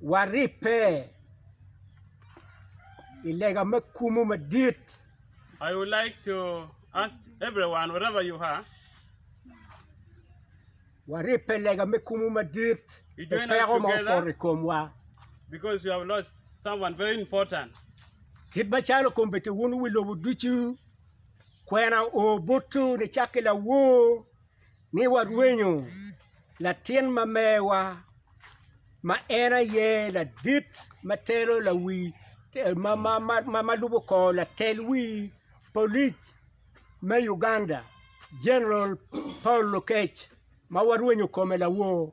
waribbe i lega me kumu madit. I would like to ask everyone, wherever you are, waribbe i lega me kumu madit You pi join us peko ma together. oporo i komwa because we have lost someone very important. kit macalo kombeddi wun wi lobo ducu kwena o botwu nicakke lawor ni warwenyo latin ma mewa ma en aye ladit ma telo lawi ma lubo kor latel wi polic me Uganda General Paul Lokech ma warwenyo kome lawor.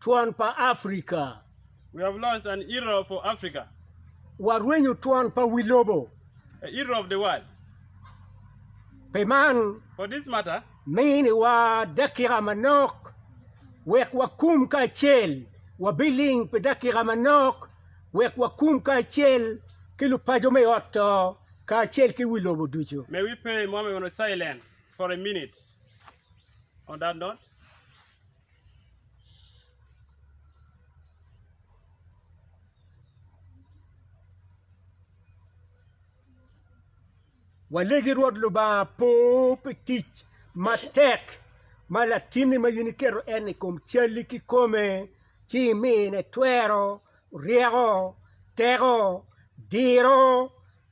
twon pa Afrika. We have lost an Europe for Africa. Warwenyo twon pa wi lobo. A Europe of the world. Pi man, For this matter, miniwa dakika manok wek wakum kacel. Wabiling pi dakika manok wek wakum kacel ki lupaco me ot to kacel ki wi lobo ducu. may we pay moment of silence for a minute on that note. Walegi Rwot Lubanga po pi tic matek ma latinni ma in iketo en i kom calli kikome ci imine twero, ryeko, teko, diro,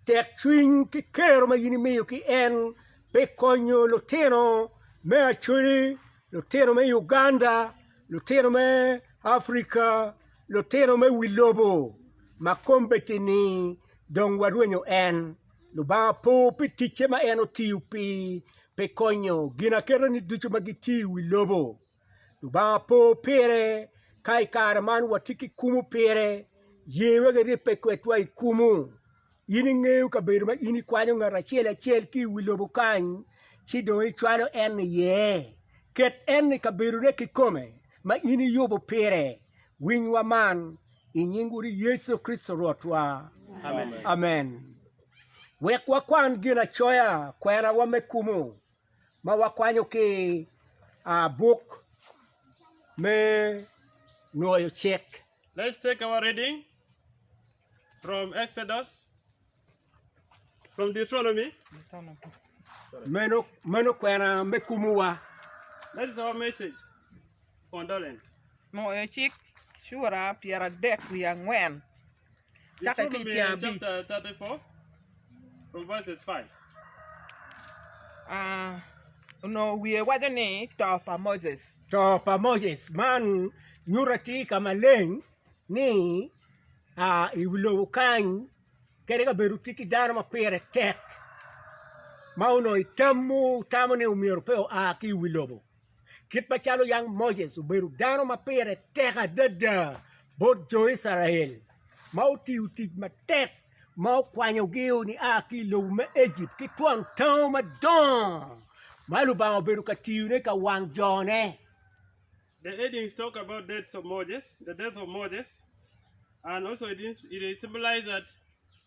tekcwiny ki kero ma in imiyo ki en pi konyo lutino me Acoli lutino me Uganda, lutino me Africa, lutino me wi lobo ma kombeddi-ni dong warwenyo en. Lubanga opo pi ticce ma en otiyo pi pi konyo ginaketeni ducu ma gitye i wi lobo. Lubanga opo pire ka i kare man watye ki kumu pire, ye wek iribbe kwedwa i kumu. In ingeyo kabedo ma in ikwanyo ngat acel acel ki i wi lobo kany ci dong icwalo en iye. Ket en i kabedone kikome ma in iyubo pire. Winywa man i nying Wodi Yecu Kricito Rwotwa. Amen. Wek wakwan Ginacoya, Kwenawa me Kumo, ma wakwanyo ki i buk me Nwoyo Cik. Let's take our reading from Exodus, from Deuteronomy. Meno, meno kwena me kumowa. That is our message. Condolence. Nwoyo Cik, cura pyeradek wiye angwen. Cake ki i tyen abic. Onongo wiye waco ni To pa Moses. To pa Moses. Man nyuto atir ka maleng ni i wi lobo kany kadi ka bed otye ki dano ma pire tek ma onongo itamo ni myero pe oa ki i wi lobo. Kit macalo yam Moses obedo dano ma pire tek adada bot jo Icrael ma otiyo tic matek ma okwanyogi nia ki i lobo me Ejipt ki twon tango madongo ma Lubanga obedo ka tiyone ka wang jone. The headings talk about deaths of Moses, the death of Moses, and also it, it symbolizes that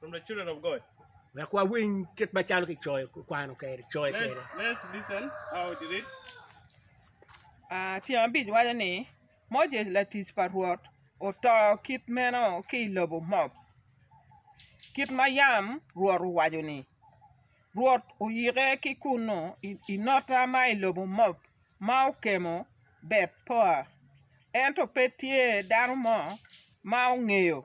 from the children of God. Wek wawiny kit macalo kicoyo kwano kere, coyo Let's, kere. let's listen how it reads. Ah, tyeng abic waco ni Moses latic pa Rwot oto kit meno ki i lobo Moab, kit ma yam Rwot owaco ni. Rwot oyike ki kunnu i, i nota ma i lobo Moab ma okemo Bet Poa, ento pe tye dano mo ma ongeyo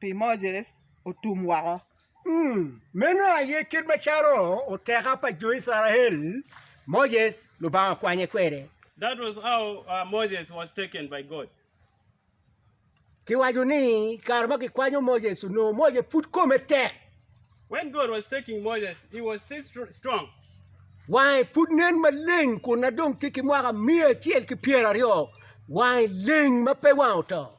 pi Moses otum woko. Meno aye kit macalo oteka pa jo Icrael, Moses Lubanga okwanye kwede. That was how uh, Moses was taken by God. Kiwaco ni kare ma kikwanyo Moses onongo Moses pud kome tek. When God was taking Moses, he was still str- strong. Wange pud nen maleng kun na dong tye ki mwaka miya acel ki pyeraryo wange leng ma pe wange oto.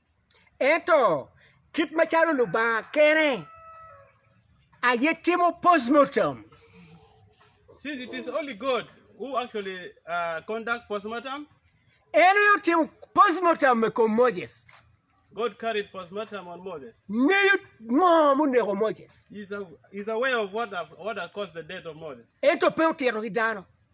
Ento, kit macalo Lubanga kene aye timo postmortem, en aye otimo postmortem i kom Moses. Ngeyo ngo ma oneko Moses, ento pe otito ki dano.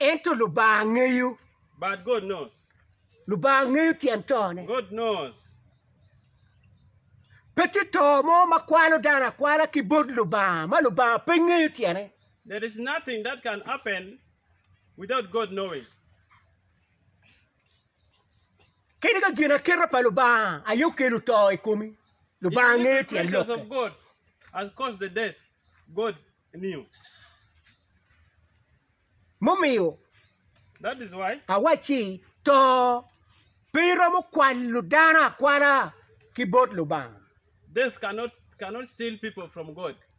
Ento Lubanga ngeyo. But God knows. Lubanga ngeyo tyen tone. God knows. Pe tye to mo ma kwalo dano akwala ki bot Lubanga ma Lubanga pe ngeyo tyene. There is nothing that can happen without God knowing. Kadi ka ginaketa pa Lubanga aye okelo to i komi, Lubanga ngeyo tyen lokke. As caused the death, God Mumiyo awacci, to pe iromo kwalo dano akwala ki bot Lubanga.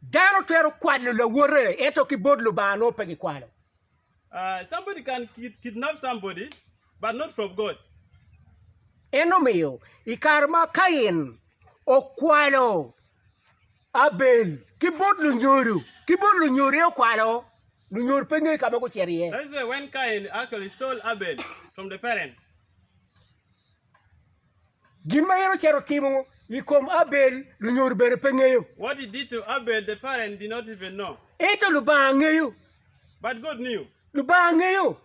Dano twero kwalo lawote, ento ki bot Lubanga nongo pe gikwalo. Eno miyo i kare ma Kain okwalo. Abel ki bot lunyodo ki bot lunyode okwalo lunyod pe nge ka ma gucito iye. This is when Cain actually stole Abel from the parents. Gin ma en ocito timo i kom Abel lunyodo bene pe ngeyo. What he did to Abel the parents did not even know. Ento Lubanga ngeyo. But God knew. Lubanga ngeyo.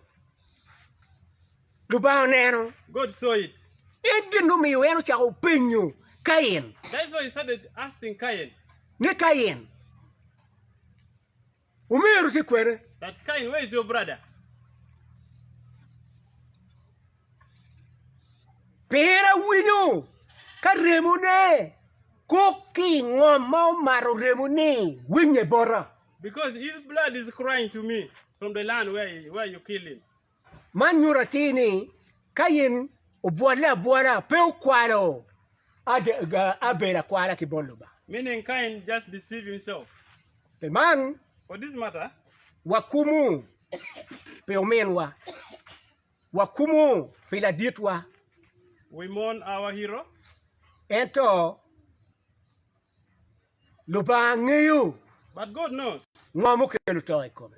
Lubanga oneno. God saw it. En gin omiyo en ocako penyo Kain. That's why he started asking Cain. Ni Kain, omeru tye kwene? That Cain, where is your brother? Pien awinyo ka remone kok ki i ngom ma omato remo ni winye bota. Because his blood is crying to me from the land where, where you kill him. Man nyuto atir ni Kain obwolle abwola, pe okwalo Abel akwala ki bot Lubanga. Meaning Kain just deceived himself. Pi man, For this matter, wakumu pi ominwa, wakumu pi laditwa, we mourn our hero. ento Lubanga ngeyo ngo ma okelo to i kome.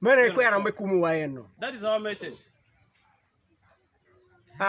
Meno aye kwena me kumowa ennu.